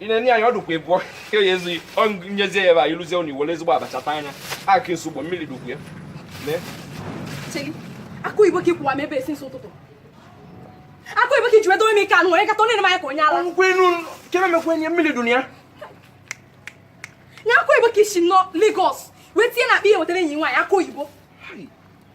ị na-enye anyị ọdụkwa ịbụọ ya ezughị nyezie ya ebe a ịlụzie ụnụ iwere ezigbo abacha taa anya aka esi ụgbọ mmiri dụkwu ya akụ igbo ka ị kwụwa m ebe since ụtụtụ akụ igbo ka i ji wedo m ike anụ were kata na-ene m anya ka onye ala nkwenu kere mekwenye mmiri dụ na ya nya akụ igbo ka i si na Lagos wee tinye na akpa ihe wetara enyi nwaanyị akụ oyibo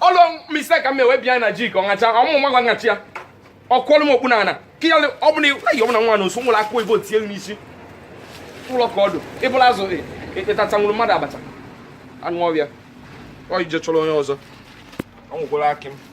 ọ bụ mistake ka m wee bịa na jik ọngacha ọmụ nwa gwa ngachi ya ọ kwọlụ m okpu na ana ka ya ọ bụla ayi ọbụla nwa na osu nwụrụ akụ igbo tie n'isi ụlọ ka ọdụ ịbụla azụ ịtacha nwụrụ mmadụ abacha anụ ọbịa ọ ije chọrọ onye ọzọ ọ nwụkwara akị m